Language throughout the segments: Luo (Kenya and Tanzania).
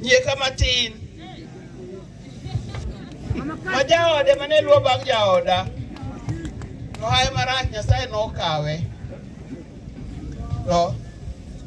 Yie kama tin. Ma jaode mane luwo bang' jaoda. Nohaye marach Nyasaye nokawe. To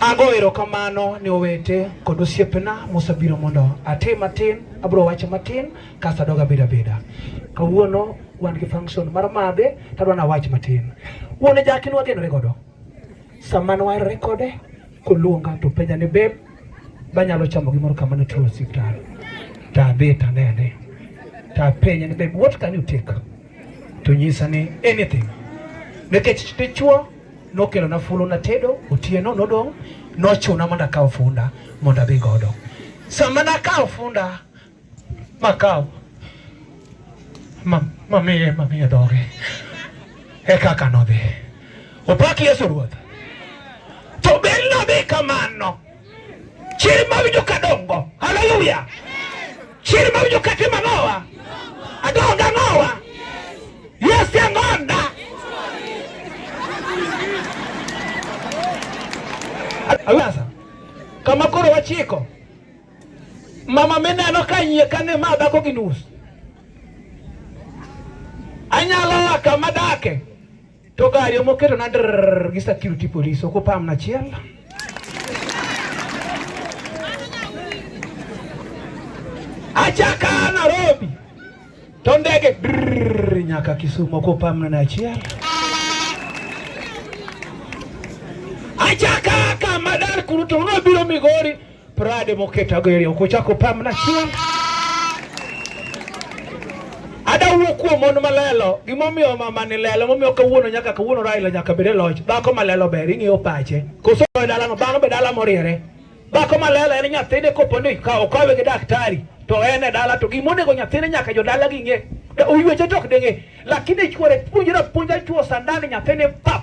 Ago erokamano ni owete kod osiepena mosebiro mondo ati matin, abiro wacho matin kasto adog abeda beda. Kawuono wan gi function mar madhe to adwa nawach matin. Wuone jaki nwagenore godo. Sama nwaerore kode koluonga to penja ni beb banyalo chamo gimoro kama ne tuo osiptal. Tadhi tanene. Tapenje ni beb what can you take? to nyisa ni anything nikech dichuo nokelona fulu natedo otieno nodong' nochuna mondo akaw funda mondo adhi godo sama nakawo funda makawo mamiye mamiye dhoge e kaka nodhi opak yesu ruoth to bel nodhi kamano chiri mawinjo ka dongo haleluya chiri mawinjo ka tima nowa adonga nowa yes yangonda awasa kama koro wachiko mama mineno ka nyie kane ma dhako gi nus anyalo waka madake To gari ema oketona drrrr gi security police ok opamna achiel. Achaka Nairobi to ndege drrrr nyaka Kisumu ok opamna na achiel. Achaka kama dar kuru to nobiro Migori Prade moketa gere ok ochako pam na chieng. Ada wuo kuom mon malelo, gimomiyo mama ni lelo, momiyo kawuono nyaka kawuono Raila nyaka bede loch. Dhako malelo ber ing'eyo pache. Koso e dala no bang' be dala moriere. Dhako malelo en nyathine kopo ni ka okawe gi daktari to en e dala to gimonego nyathine nyaka jo dala gi ng'e. Oyweche tok denge. Lakini chwore puonjra puonja chwo sandani nyathine pap.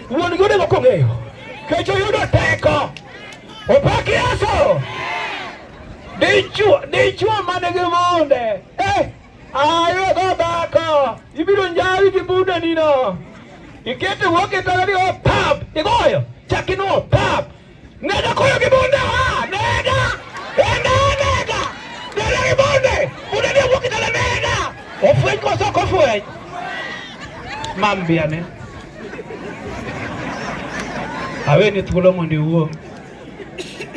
Wuon gi onego kong'eyo kech oyudo teko. Opak Yesu. Dichwo dichwo man gi munde. Eh, ayo go dhako. Ibiro njawi gi bunde nino. Ikete wuok e tara ni opap. Igoyo. Chakino opap. Nenda kule kibonde, ah, nenda. Enda, nenda. Nenda kibonde. Unadia kwa kitala nenda. Ofwe kwa soko ofwe. Mambi ane. Awe ni thuolo mondi uo.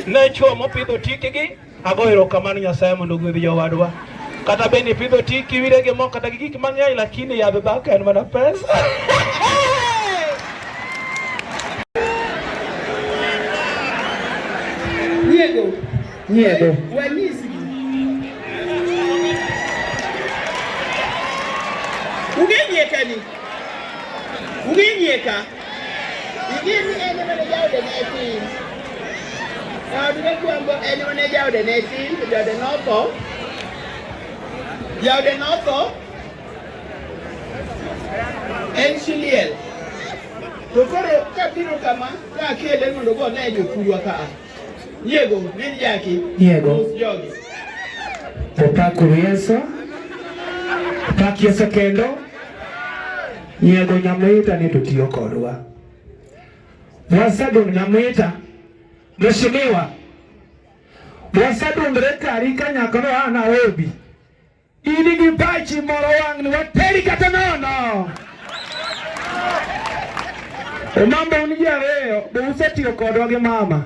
Ne chuo mopidho tikigi Agoyo erokamano Nyasaye mondo ogwedhi jowadwa. Kata bende ipidho ti kiwire gi mo kata gi gik mang'eny lakini yadh dhako en mana pesa. Nyiego. Nyiego. Wanyisi. Ungenyieka ni. Ungenyieka. Ing'eyo ni en ema ne jaode ne tin. Jaod mokwongo en ema ne jaode ne tin, to jaode notho. Jaode notho en Shiliel. To koro kabiro kama ka akele mondo go ne jothurwa ka a. Yiego, min jaki. Yiego. Mos jogi. Opak Yesu. Opak Yesu kendo. Nyiego Nyamwita ni to tiyo kodwa. Wasadong Nyamwita, Mheshimiwa, wasadongre kari kanyaklo a Nairobi. In gi pachi moro wang' ni wateri kata nono. Omambo un ji ariyo, be usetiyo kodwa gi mama?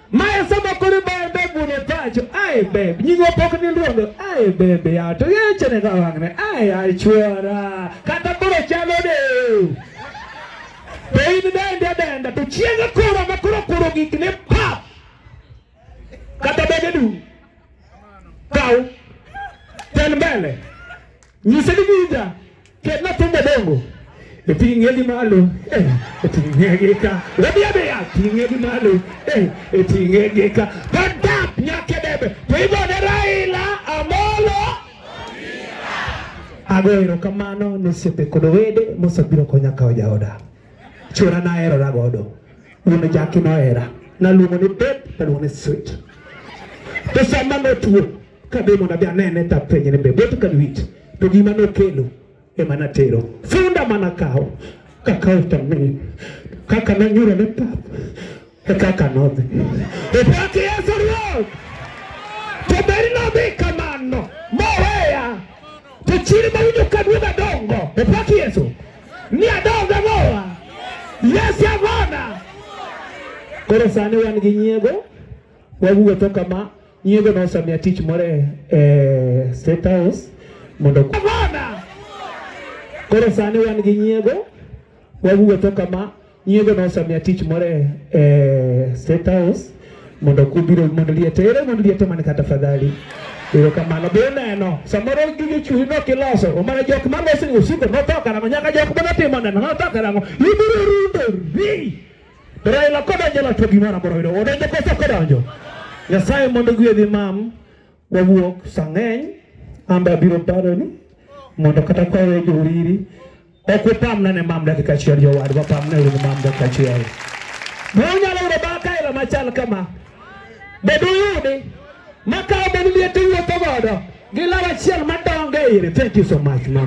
Mae sama kori bae beb wuon opacho, ae beb, nyingo pok ni ndrogo, ae beb ya, to yeche ne ka wang'ne, ae ae chwara, kata koro chalo de. To in dende denda, to chieng' koro ma koro koro gik ne pap, kata bebe du. Kau ten mbele nyise ni winja ket na thumbe dongo e ting'e gi malo eh, e ting'e gi ka rabi abiya ting'e gi malo eh, e ting'e gi ka kadap nyake debe to igone Raila Amolo ago erokamano ne osiepe kod owede mosebiro konya kawo jaoda Chura nahero na godo. Wuon jaki nohera. Naluongo ni babe, naluongo ni sweet. To sama notuo, kadhi mondo adhi anene to apenje ni babe, what can we eat? To gima nokelo ema natero. Funda mana kawo. Kakawo to mi. Kaka nanyura ne pap. kaka nodhi opaki Yesu Ruoth to beri nodhi kamano moweya to chiri mawinjo ka duoga dongo opaki Yesu ni adonga mowa Yesu avona koro sani wan gi nyiego wawuotho kama nyiego nosamiya tich moro e, e State House mondo avona koro sani wan gi nyiego Waguo to kama nyiego no samia tich more eh, State House mondo kubiro mondo liete ere mondo liete man kata fadhali Ero kamano be neno samoro gige chuhi no kiloso omana jok ma losi usiko no toka na nyaka jok ma timo neno no toka na ibiro rundo ri Raila kodonjo la to gimana boro yudo odonjo koso kodonjo Nyasaye mondo gwedhi mam Wawuok sang'eny amba biro baro ni mondo kata kwa we joriri ok upamna ne mam dakika achiel jowad wapamne uru mam dakika achiel be unyalo yudo bakaelo machal kama be duyudi makawo beni liete wuotho godo gi law achiel madongo e ire thank you so much mama